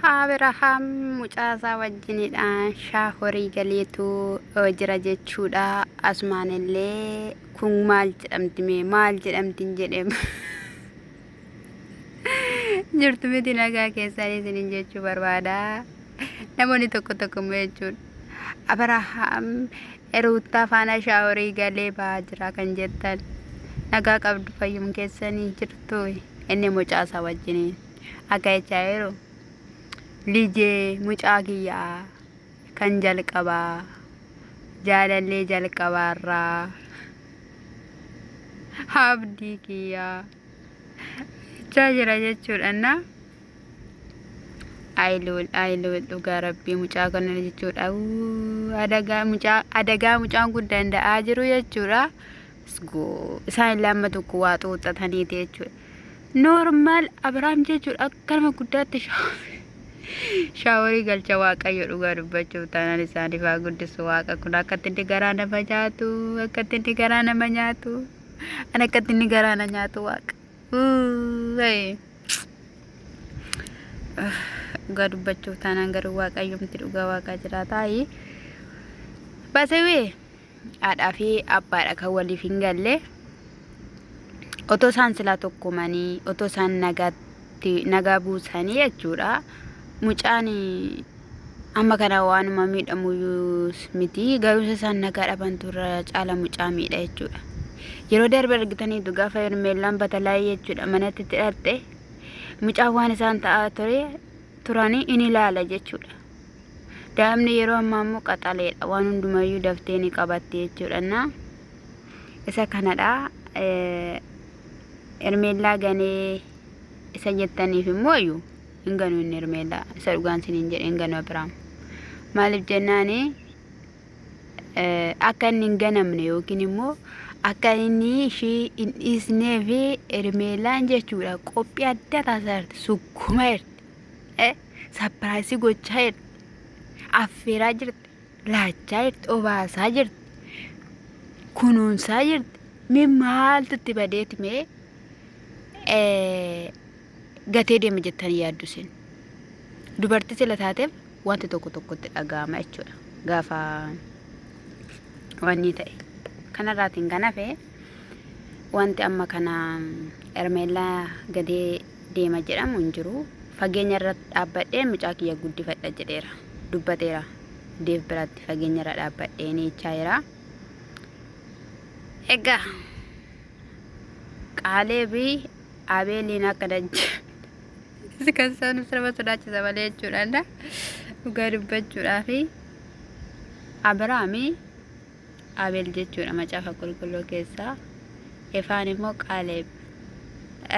Abrahaam mucaasaa wajjinidha shaa horii galeetu jira jechuudha. Asumaan illee kun maal jedhamti mee maal jedhamti hin jedhe jirtu miti nagaa keessaan isinin jechuu barbaada. Namoonni tokko tokko immoo jechuudha. Abrahaam ruuttaa faana shaa horii galee ba'aa jira kan jettan nagaa qabdu fayyum keessanii jirtu inni mucaasaa wajjiniin. akka jechaa jiru lijee mucaa kiyyaa kan jalqabaa jaalallee jalqabaarraa abdii kiyyaa jechaa jira jechuudhanna ayiluul ayiluul dhugaa rabbii mucaa kana jechuudha Uu, adagaa mucaa adagaa mucaan kun danda'aa jiru jechuudha. Isaan illee amma tokko waa xuuxxataniiti jechuudha. Noormaal Abiraam jechuudha akka nama guddaatti shaaworii galcha waaqayyo dhugaa dubbachuuf taanaan isaaniif haa guddisu waaqa kun akkatti inni garaa nama nyaatu akkatti inni garaa nama nyaatu an akkatti inni garaa na nyaatu waaqa. Dhugaa dubbachuuf taanaan garuu waaqayyoomti dhugaa waaqaa jiraataa. Basewee. haadhaa fi abbaadha kan waliif hin galle otoo isaan silaa tokkumanii otoo isaan nagaatti nagaa buusanii jechuudha mucaan amma kana waanuma miidhamu miti garuusa isaan nagaa dhaban turra caala mucaa miidha jechuudha yeroo darbe argitaniitu gaafa hermeellaan batalaa'ee jechuudha manatti itti dhaqxe mucaan waan isaan ta'aa ture turanii in ilaala jechuudha Daa'imni yeroo ammaa immoo qaxaleedha. Waan hundumayyuu daftee ni qabatti jechuudha. Isa kanadha. Ermeellaa ganee isa jettaniif immoo iyyuu hin ganu inni ermeellaa. Isa dhugaan siniin jedhe hin ganu Abiraam. Maaliif jennaani akka inni hin ganamne yookiin immoo akka inni ishii hin dhiisnee fi ermeellaan jechuudha qophii adda taasisaa jirti sukkuma jirti. sapiraayisii gochaa jirti. Affeeraa jirti. Laachaa jirti. Obaasaa jirti. Kunuunsaa jirti. Mee maaltu itti badeeti mee eh, gatee deema jettanii yaaddu isin. Dubartii sila taateef wanti tokko tokkotti dhaga'ama jechuudha. Gaafa wanni ta'e. Kanarraatiin kan hafe wanti amma kana Ermeellaa gadee deema jedhamu hin jiru. Fageenyarra dhaabbadheen mucaa kiyya guddifadha jedheera. Dubbateera. Deev biratti fageenyarra dhaabbadhee ni ichaa'eera. Egaa Kaaleebi Abeeliin akka dajja kan isaan sirba sodaachisa malee jechuudhaan dhugaa dubbachuudhaa fi Abiraami Abeel jechuudha macaafa qulqulluu keessaa. Efaan immoo Qaaleeb.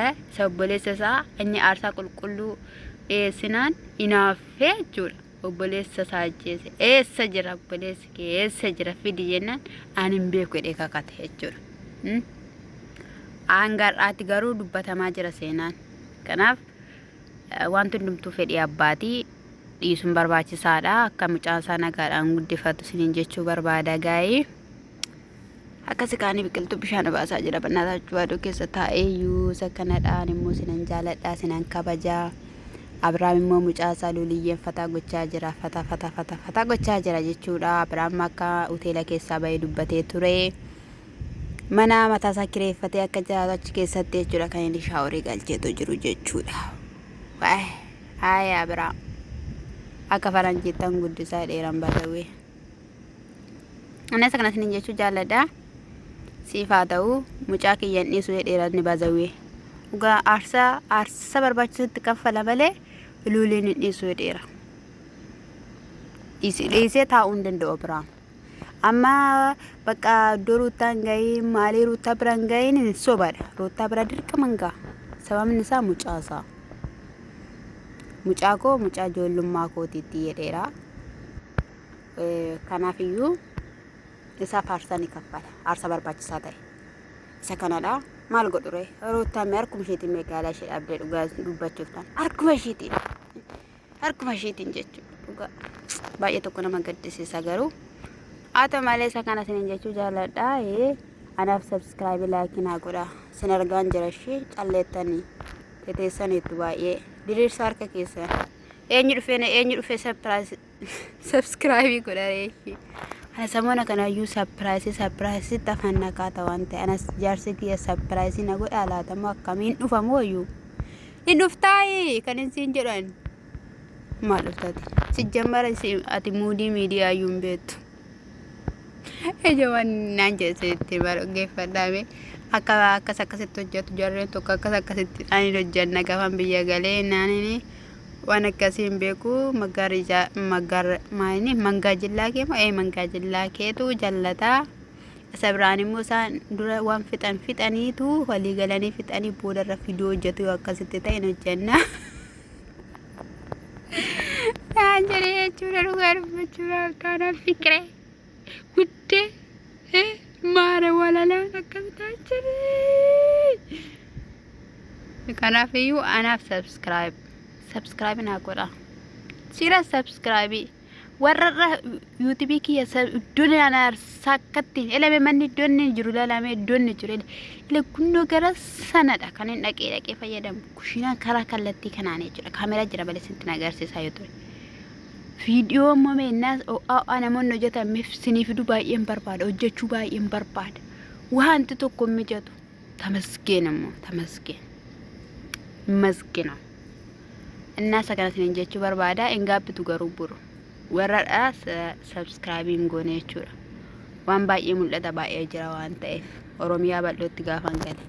Eh, Isa obboleessa isaa inni aarsaa qulqulluu dhiyeessinaan inaaffee jechuudha. Obboleessa isaa ajjeese. Eessa jira obboleessi kee? Eessa jira fidi jennaan ani hin beeku jedhee kakate jechuudha. Hmm? Hanga har'aatti garuu dubbatamaa jira seenaan. Kanaaf eh, wanti hundumtuu fedhii abbaatii dhiisuun barbaachisaadha akka mucaan isaa nagaadhaan guddifatu isiniin jechuu barbaada gaa'ee akkasi kaanii biqiltuu bishaan obaasaa jira bannaataa cuwaaduu keessa taa'eeyyuu isa kanadhaan immoo sinan jaaladhaa sinan kabajaa Abiraam immoo mucaa isaa luuliyyeen fataa gochaa jira fataa fataa fataa fataa gochaa jira jechuudha Abiraam akka hoteela keessaa bahee dubbatee ture mana mataa isaa kireeffatee akka jiraatu achi keessatti jechuudha kan inni shaaworii galcheetu jiru jechuudha. Waa'ee. Haaya abraa akka faranjiittan guddisaa jedheeran badawee. Anas akkanas nin jechuu jaalladha. Siif haa ta'u mucaa kiyyan dhiisu jedheeran ni badawee. Dhugaa aarsaa aarsaa barbaachisutti kaffala malee luuliin hin dhiisu jedheera. Dhiisee taa'uu hin danda'u abraa. Amma bakka iddoo ruuttaa hin ga'iin maalii ruuttaa bira hin ga'iin hin sobaadha. Ruuttaa bira dirqama hin ga'a. Sababni isaa mucaa isaa. Mucaa koo mucaa ijoollummaa kootiitti jedheera. Kanaaf iyyuu isa faarsaa ni kaffala. Aarsaa barbaachisaa ta'e. Isa kanadha. Maal godhure? Ruuttaa mee harkuma isheetiin magaalaa ishee dhaabdee dhugaa dubbachuuf ta'an. Harkuma isheetiin. harkuma ishiitiin jechuudha dhugaa baay'ee tokko nama gaddisiisa garuu haa ta'u malee isa kana isiniin jechuu jaalladha ee anaaf sabskraayibii laayikii naa godha sin argaan jira ishee calleettanii teteessaniitu baay'ee diriirsa harka keessan eenyu dhufee na eenyu dhufee sabskraayibii godha reeshi ana samoona kanaayyuu sapiraayisii sapiraayisii tafan nakaa ta'an ta'e anas jaarsi kiyya sapiraayisii na godha laatamoo akkamiin dhufamoo iyyuu Hin dhuftaayi kan hin siin jedhu ani. Maal dhuftaati? Sijjammara isin- ati muudii miidiyaa iyyuu hin beektu. Ijooman naan jedhe itti bargeeffadhaame. Akka akkas akkasitti hojjetu jarreen tokko akkas akkasitti ani hojjenna gaafan biyya galee naanini waan akkasii hin beeku maggaara ijaa maggaara maayini mangaa jillaa kee moo ee mangaa jillaa keetu jallataa. Isa biraan immoo isaan dura waan fixan fixaniitu walii galanii fixanii booda irra fiduu hojjetu yoo akkasitti ta'e hin hojjenna. Naan jedhee jechuudha dhugaa dubbachuudha akkaanaan fiqiree guddee maara walalaan akkamitaa jedhee. Kanaaf iyyuu anaaf subscribe subscribe naa godha. Siira subscribe. warrarra yuutubii kiyya iddoon ana sakkatti elame manni iddoon inni jiru lalame iddoon inni jiru ila gunnoo gara sanadha kan hin dhaqee dhaqee fayyadamu kushiinaa karaa kallattii kanaan jechuudha kaameraa jira balee sinti na agarsiisaa yoo ture viidiyoo immoo meennaas o'aa namoonni hojjetan mif sinii fiduu baay'een barbaada hojjechuu baay'een barbaada wanti tokko mijatu tamasgeen immoo tamasgeen masgina Innaa isa kana isiniin jechuu barbaada. Hin gaabbitu garuu buru. Warradha sabskraayibii hin goone jechuudha. Waan baay'ee mul'ata baay'ee jira waan ta'eef. Oromiyaa bal'ootti gaafan gale.